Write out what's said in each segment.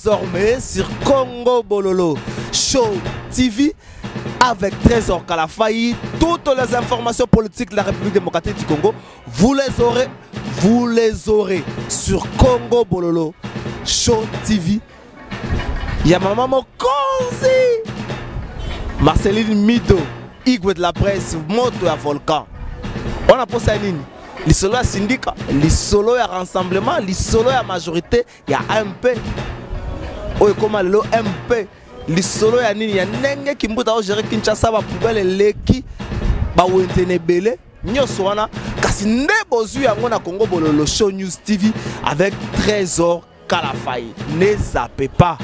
Désormais sur Congo Bololo Show TV avec Trésor Kalafayi, toutes les informations politiques de la République démocratique du Congo, vous les aurez, vous les aurez sur Congo Bololo Show TV. Il y a ma maman Konzi, Marceline Mido, Igwe de la presse, Moto à Volcan. On a posé à Nini lisolo ya sindika lisolo ya rassemblement lisolo ya majorité ya mp oyo ekoma lelo mp lisolo ya nini ya ndenge kimbuta ogere kinshasa bapoubele eleki bawenze na ebele nyonso wana kasi nde bozwi yango na congo bololo show news tv avec trésor kalafai ne zape pas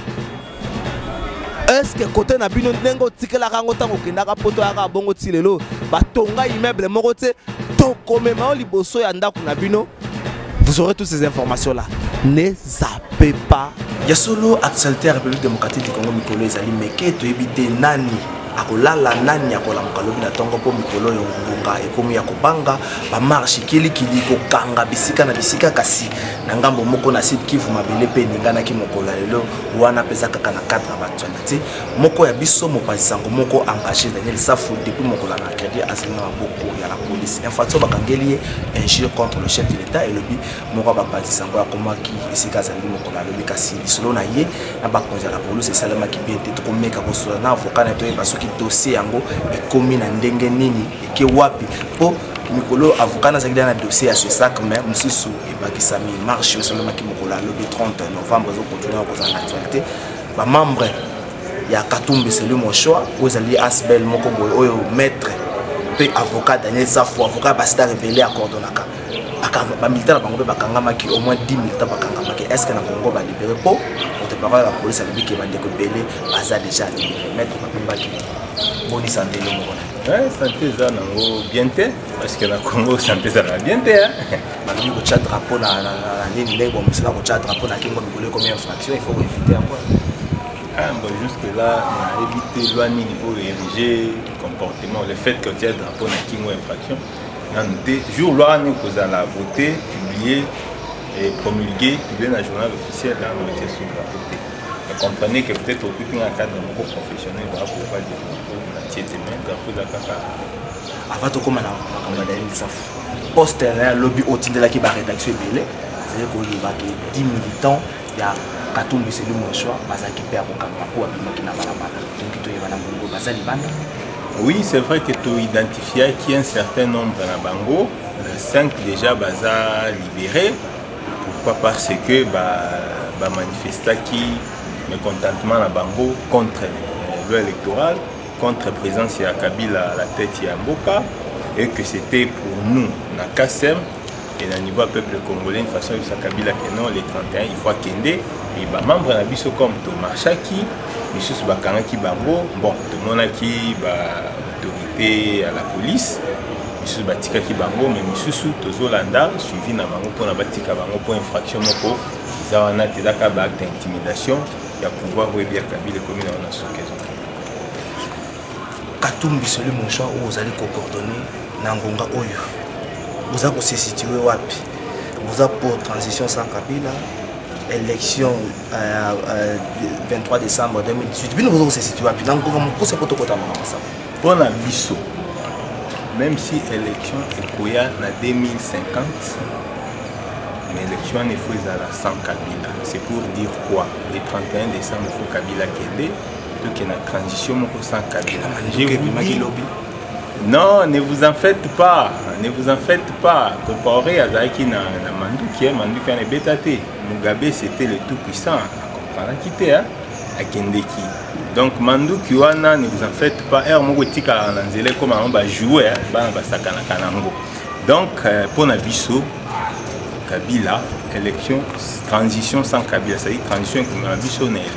eske kote na bino ndenge otikelaka yango ntango okendaka poto yaka bongo ti lelo batonga immeuble moko te tokomema yo liboso ya ndako na bino Vous aurez toutes ces informations-là. Ne zappez pas. Ya solo actualité ya République démocratique du Congo mikolo ezali meke toyebi te nani akolala nani akolamuka lobi na ntongo mpo mikolo oyo ngonga ekomi ya kobanga bamarshe kilikili kokanga bisika na bisika kasi na ngambo moko na sud kivu mabele mpe eninganaki mokolo ya lelo wana mpenza kaka na cadre ya baactualité moko ya biso mopanzi sango moko engage daniel safu depuis mokolo ya mercredi azali na maboko ya la police infraction bakangeli ye injure contre le chef de l'état elobi moko ya bapanzi sango akomaki esika azali mokolo alobi kasi lisolo na ye na bakonzi ya la police esalemaki bien te tokomeka kosola na avoka na ye toyeba soki dossier yango ekomi na ndenge nini eke wapi mpo mikolo avoka nazalaki da na dossier ya sesac mais mosusu ebakisami marche esalemaki mokolo alobi 30 novembre ezokontinue kozala na actualité ba membre ya katumbi celui mon choix oyo ezali asbel moko boye oyo maître mpe avocat daniel safo avocat ya basida rebele acordonaka bamilita na bango mpe bakangamaki au moins 10 milita bakangamaki est ce que na congo balibere mpo moto parole ya polisi alobi ke bandeko ebele baza déjà libere maître bakumbaki bonisa ndelo moko na eh, sante eza nango bien te parce que na congo sante ezalaka bien te balobi kotya drapeau na nini ndenge bomosala kotya drapeau na kingo mikolo ekomi infraction il faut koevite yango ah, bon jusque là nayebi te loi nini oyo érige comportement le fait que otya drapeau na kingo infraction nanu te jour loi wana ekozala vote publie et promulgué publie na journal officiel nanu etye sous drapeau te comprenez que peut-être okuti na cadre moko professionnel bakokoba drapeau na tie te mais drapeau eza kaka ava tokóma na makambo ya daniel safu poste na ya lobi otindelaki barédaction ebele ezali koyeba ke 10 militant ya katumbi selu monsoi bazalaki mpe ya kokamba mpo abimaki na balabala toki toyeba na bongo baza libanda oui c'est vrai que toidentifiaki un certain nombre na bango 5 déjà baza libéré pourquoi parce que bamanifestaki ba mécontentement na bango contre euh, loi électorale contre présence ya Kabila à la tête ya mboka et que c'était pour nous na KSM et na niveau peuple congolais une façon de Kabila que non les 31 il faut akende et ba membres na biso comme Thomas Chaki misusu bakangaki bango bon tomonaki ba autorité à la police misusu batikaki bango me misusu tozolanda suivi na bango mpona batika bango mpo infraction moko eza wana te ezaka baacte intimidation ya pouvoir oyebi ya kabila ekomi na wana soki ezo katumbi soli mosha oyo ozali kokordone na ngonga oyo boza kosesitue wapi boza pour transition sans kabila élection euh, euh, 23 décembre 2018 bino boza kosesitue wapi na ngonga mokuse mpo tokotama na masako mpo na biso même si élection ekoya na 2050 mais élection wana efo ezala sans kabila c'est pour dire quoi le 31 décembre fo kabila kende toke na transition moko sans kabila non ne vous en faites pas ne vous en faites pas compaoré azalaki na, na manduki manduki wana ebeta te mugabe c'était le tout puissant akomparaki te akendeki donc manduki wana ne vous en faites pas heure moko etikalaka na nzela ekoma yango bajoue bana basakanaka nango donc euh, mpo na biso kabila élection transition sans kabila c'est-à-dire transition ekomela biso na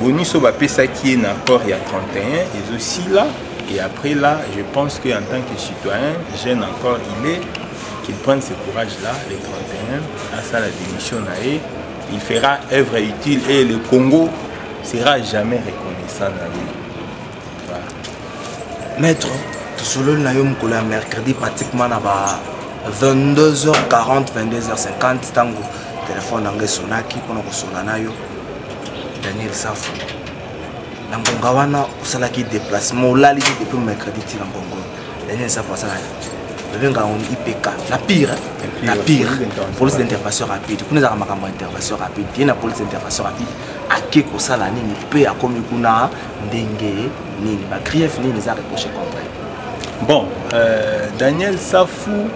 bonus oyo bapesaki ye na accord ya 31 ezosila et après là je pense que en tant que citoyen jeune encore il est qu'il prenne ce courage là le 31 asala démission na ye il fera œuvre utile et le congo sera jamais reconnaissant na ye voilà. maître tosololi na yo mokolo ya mercredi pratiquement na ba 22h40 22h50 ntango telefone yango esonaki mpona kosona na yo daniel safu na ngonga wana osalaki déplacement olali te depuis mercredi ti na ngongo daniel safu asalaki babengaka yango ipk na pire na pire police d'intervention rapide kuna ezalaka makambo ya intervention rapide ye na police d'intervention rapide ake kosala nini mpe akomi kuna ndenge nini bagrief nini eza reproche contre bon euh, daniel safu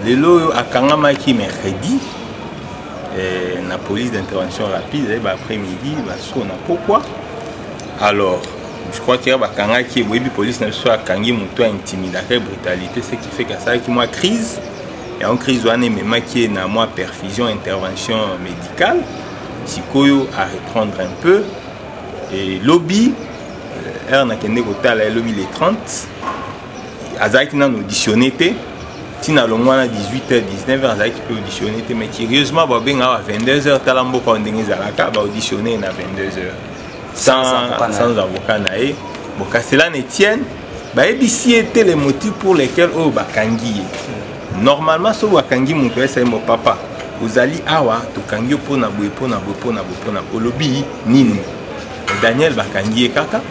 lelo oyo akangamaki mercredi eh, na police d'intervention rapide ezali eh, baaprès-midi basukona pokwa alors je crois que bakangaki boyebi police na biso akangi moto ya intimidaka ye brutalité ce qui fait kasalaki mwa crise yango crise wana ememaki ye na mwa perfusion intervention médicale sikoyo à reprendre un peu et lobi euh, heure nakende kotala ye lobi le 30 azalaki nano auditionné te ntina alongo wana 18h 19h azalaki mpe auditionné te mais curieusement babengaka ba 22h tala mboka oyo ndenge ezalaka baauditionné na 22h sans avocat na ye bokaselana etienne bayebisi ye te le motif pour lequel oyo bakangi ye normalement soki bakangi moto ya esaimo papa ozali awa tokangi yo mpo na boye mpo na boye mpo na boye mpo na olobi nini daniel bakangi ye kaka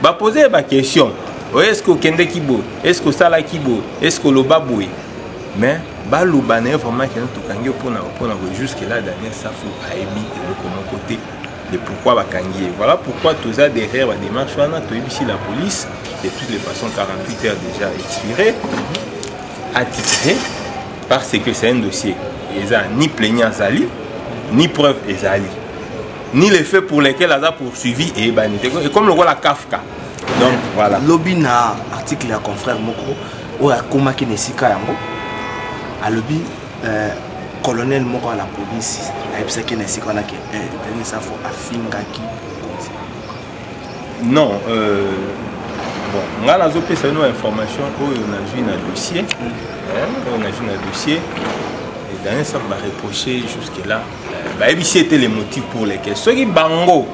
ba poser ba question oh, est ce que okende kibo est ce que osala kibo est ce que oloba boye mais baloba na ye vraiment kena tokangi yo mpona mpona boye jusque là daniel safu ayebi eloko moko te de pourquoi bakangi ye voilà pourquoi toza derrière badémarche wana toyebisi la police de toutes les façons 48 heures déjà expiré attitré parce que c'est un dossier eza ni plaignant azali ni preuve ezali ni le fait pour lequel aza poursuivi eyebani te ekomi lokola kafka donc voilà lobi na article ya confrère moko oyo akomaki na esika yango alobi euh, colonel moko ya la police ayebisaki na esika wana ke eh, denis safo afingaki mokonzi non euh, bon ngai nazopesa bino information oyo nazwi na dossier oyo nazwi na dossier daniel safo bareproche jusque là bayebisi ete le motif pour lequel soki bango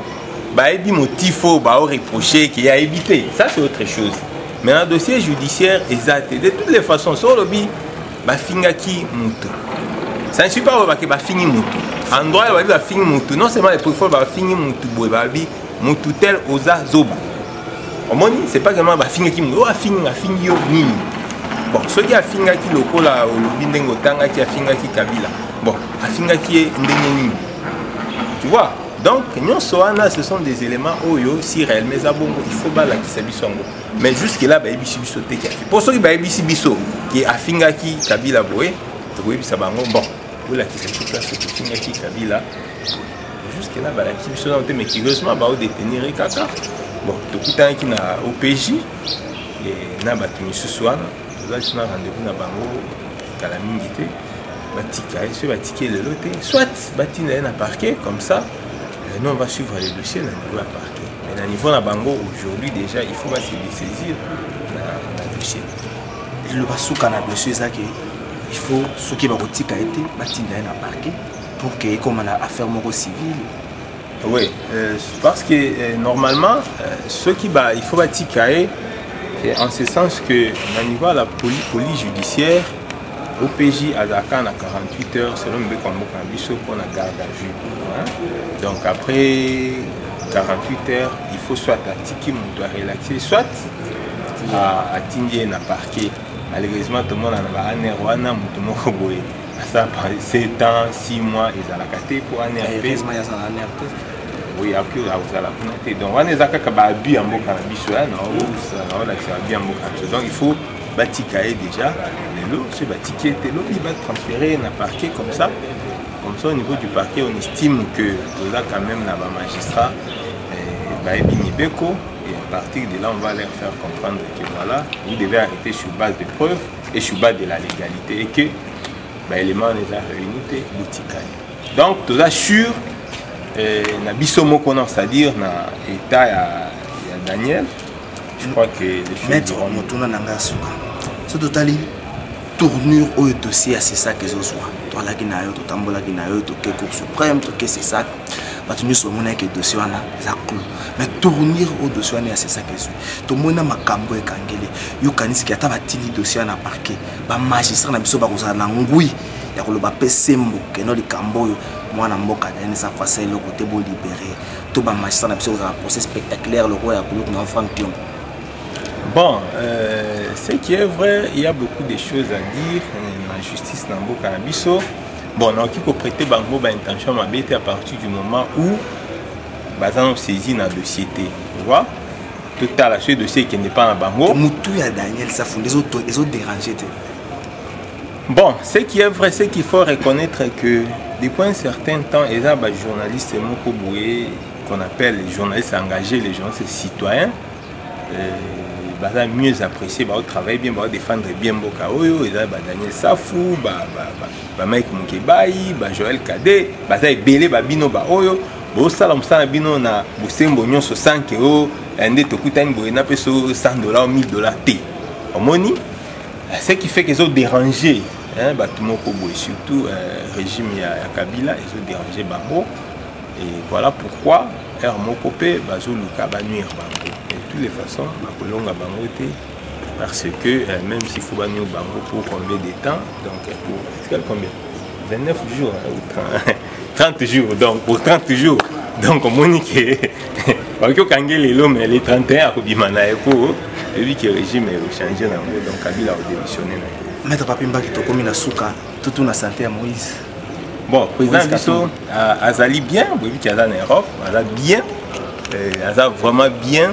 bayebi motif oyo baoreproche eke ayebi te ça c'est autre chose mais na dossier judiciaire eza te de toutes les façons so olobi bafingaki moto ça ne suis pas olobaki bafingi moto en droit babi bafingi moto non seulement eprefol bafingi moto boye babi moto tel oza zoba omoni c'est pas seulement bafingaki moto oyo oh, afingi afingi yo nini bon soki afingaki lokola olobi ndenge otangaki afingaki kabila bon afingaki ye ndenge nini tu vois donc nyonso wana ce sont des éléments oyo si réellement eza bongo il faut balakisa biso yango mais jusque là bayebisi biso te ke mpo soki bayebisi biso ke afingaki kabila boye tokoyebisa bango bon bolakisa biso place ofingaki kabila jusque là balakisi biso nano te mais curieusement bao détenir ye kaka bon tokutanaki na opj na bato misusu wana toza biso na rendez-vous na bango kala mingi te batika ye soki batiki ye lelo te soit batinda ye na parquet comme ça euh, nous on va suivre le dossier na niveau ya parquet mais na niveau na bango aujourd'hui déjà il faut base dessaisir na, na dossier eloba suka na dossier eza ke il faut soki bakotika ye te batinda ye na parquet pour que ekoma na affaire moko civile oui euh, parce que euh, normalement euh, ceux qui ba il faut batika ye en ce sens que na niveau ya la police, police judiciaire OPJ azalaka na 48 heures selon mibeko ya mboka na biso mpo na garde à vue hein? donc après 48 heures il faut soit atiki moto arelaxe soit atindi ye na parquet malheureusement tomonana ba aner wana moto moko boye ça par 7 ans 6 mois ezalaka te mpo ane oui apure akozala kuna te donc wana eza kaka baabi ya mboka na biso ya naolakisa abi ya mboka na biso donc il faut batika ye déjà lelo soki batiki ye te lobi batransfere ye na parquet comme ça comme ça au niveau du parquet on estime que toza quand même na bamagistrat eh, bayebi mibeko et à partir de là on va leur faire comprendre que voilà vous devez arrêter sur base de preuves et sur base de la légalité et que ba éléments les a réunis te botikali donc toza sur eh, na biso moko na c'est-à-dire na état ya, ya Daniel je crois que les choses maître motuna na nga suka so totali tournure oyo dossier ya sesak ezozwa toalaki na yo totambolaki na yo toke cour suprême toke sesak bato nyonso bamonaki dossier wana eza clou mais tournure oyo dossier wana ya sesak ezwi tomoni na makambo ya ekangeli yo kanisiki ata batindi dossier na parquet bamagistrat na biso bakozala na ngwi ya koloba mpe sembo keno likambo oyo mwana mboka na ye eza fasa eloko te bolibere to bamagistrat na biso kozala procès spectaculaire lokola ya kuluku na frank tion Bon, euh, ce qui est vrai, il y a beaucoup de choses à dire euh, na justice na mboka na biso. Bon, naoki koprete bango ba intention mabe te à partir du moment où baza na saisie na dossier te. Tu vois? totala soki dossier ekende epa na bango motu ya daniel safu nde ezoderange te bon ce qui est vrai ce qu'il faut reconnaître que depuis un certain temps eza bajournaliste moko boye qu'on appelle les journalistes engagés les journalistes citoyens euh, baza mieux apprécié baotravaille bien baodefendre bien mboka oyo eza badaniel safu bamike mokebai bajoel kade baza ebele babino baoyo ba, ba, ba bosala mosala na bino na bosembo nyonso sanke o eh, nde tokutani boye na peso 100 dollar 1000 dollar te omoni eh, ce qui fait que ezo déranger bato moko boye surtout eh, régime ya, ya kabila ezo déranger bango et voilà pourquoi heure moko mpe bazoluka banuire bango de toutes les façons bakolonga bango te Parce que euh, même si faut banyo bango pour combien de temps, donc euh, pour quel combien 29 jours hein, ou 30, 30 jours, donc pour 30 jours. Donc omoni ke bakoki okange lelo mais le 31 akobima na ye po eyebi ke régime echange na yango donc kabila akodemissionne na ye maître papi mbaki tokomi na suka tutu na sante ya moïse bon président biso azali bien boyebi ke aza na europe aza bien euh, aza vraiment bien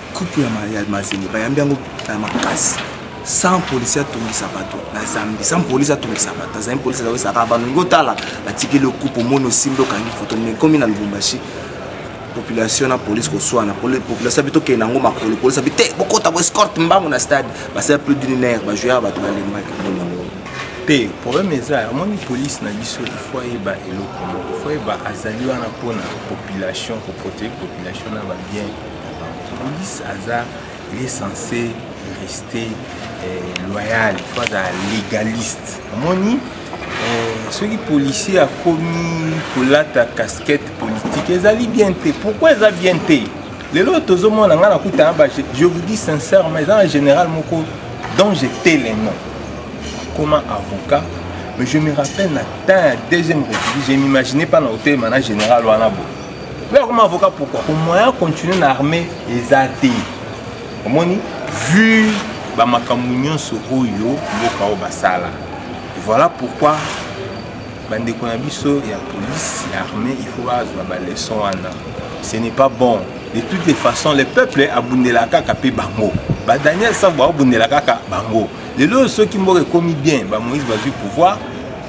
coupe ya mazembe bayambi yango na makasi sans polisi atungisa bato na zambi sans polisi atungisa bato azali polisi azakosaka balingi otala batikeli okupe omoni osimbi okangi foto me ekomi na lubumbashi population na polisi koswana population abi tokende yango makolo polisi abi te bokota boescorte mbango na stade basala plus d'une heure bajoueur bato balembaki te problème eza amoni polise na biso ifo ayeba eloko moko ifo ayeba azali wana mpona population koprotege population na babien Police aza il est censé rester euh, loyal faut azala légaliste omoni euh, soki policier akomi kolata casquette politique ezali bien te pourquoi eza bien te lelo tozomona ngai nakutana ba je vous dis sincèrement eza na général moko dont j'étais le nom akoma avocat mais je me rappelle na temps ya deuxième république je m'imaginais pas na kotelema na général wana boye Yo akoma avocat pourquoi Au moyen continuer na armée eza te. Omoni vu ba makambo nyonso oyo mboka oyo basala. Voilà pourquoi bandeko na biso ya police ya armée il faut bazwa ba leçon wana. Ce n'est pas bon. De toutes les façons, le peuple abundela kaka pe bango. Ba Daniel Sabo abundela kaka bango. Lelo soki mboka ekomi bien, ba Moïse bazwi pouvoir,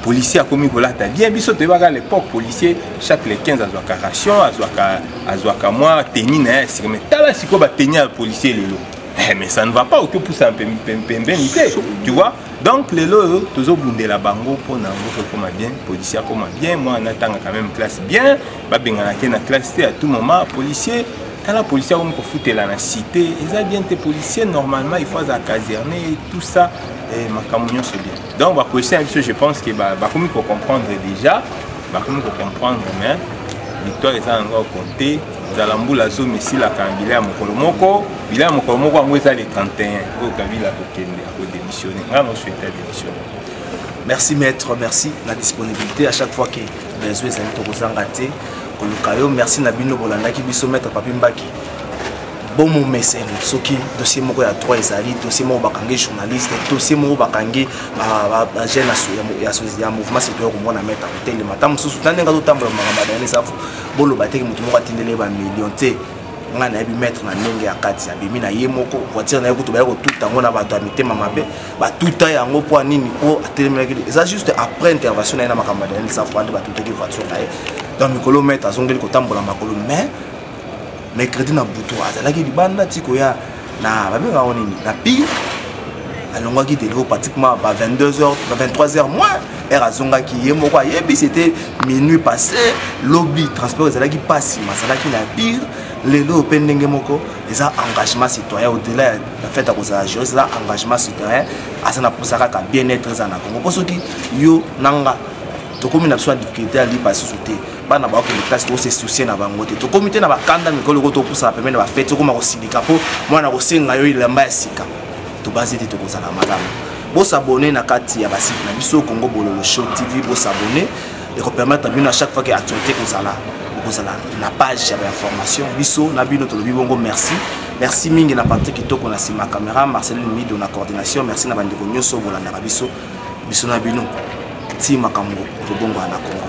policier akomi kolata bien biso toyebaka l'époque policier chaque le 15 azwaka ration azwaka azwaka mwa teni na ye ya sika mais tala sikoyo bateni ya policier lelo eh, mais ça ne va pas otopusa pembeni te tu vois donc lelo oyo tozobundela bango mpo na yango tokoma bien policier akoma bien mwana atangaka même classe bien babengana te na classe te à tout moment policier tala policier akomi kofutela na cité eza bien te policier normalement il faut aza caserne tout ça eh, makambo nyonso bien donc ba question ya biso je pense que bakomi ko comprendre déjà bakomi ko comprendre mais victoire eza na yango compte nzala mbula zomi esilaka na bila ya mokolo moko bila ya mokolo moko yango eza le 31 oyo kabila akokende akodemissione ngai nosuete ya demissione merci maître merci na disponibilité à chaque fois que besoin ezali tokozanga te koluka yo merci na bino bolandaki biso maître papi mbaki bomomeseno soki dossier moko ya droit ezali dossier moko bakangi journaliste dossier moko bakangi bajeune ya mouvement citoyen komona mete akotelema ata mosusu na ndenge azotambola makambo ya daniel safu boloba teke moto moko atindeli ye bamillion te ngai nayebi maître na ndenge ya kati abimi na ye moko voiture na ye kutu baya kotuta yango na bato ya mitema mabe batuta yango mpo nini mpo atelemelaki eza juste après intervention na ye na makambo ya daniel safu ande batutaki voiture na ye donc mikolo maître azongeli kotambola makolo mais mercredi na butu azalaki libanda ti koya na babengaka ngo nini na pire alongwaki deliro pratiquement ba 22 heures ba 23 heures moins heure azongaki ye moko ayebi c'était minuit passé lobi transport ezalaki mpasi mazalaki na pire lelo mpe ndenge moko eza engagement citoyen au-delà ya fete akozala juriste eza engagement citoyen aza na mposa kaka bien être eza na congo mpo soki yo na nga tokomi na biso na difficulté ya lipa susu te bana bakokende place to se soucie na bango te tokomi te na bakanda mikolo oko topusana pembeni na bafete okoma kosilika mpo mwana akosenga yo elamba ya sika tobanzi te tokozala malamu bosabone na kati ya basite na biso congo bololo show tv bosabone ekopermettre bino à chaque fois ke actualité ekozala okozala na page ya bainformation biso na bino tolobi bongo merci merci mingi na parti kitoko na nsima camera marcelin mido na coordination merci na bandeko nyonso bolandaka biso biso na bino ti makambo tobongola na congo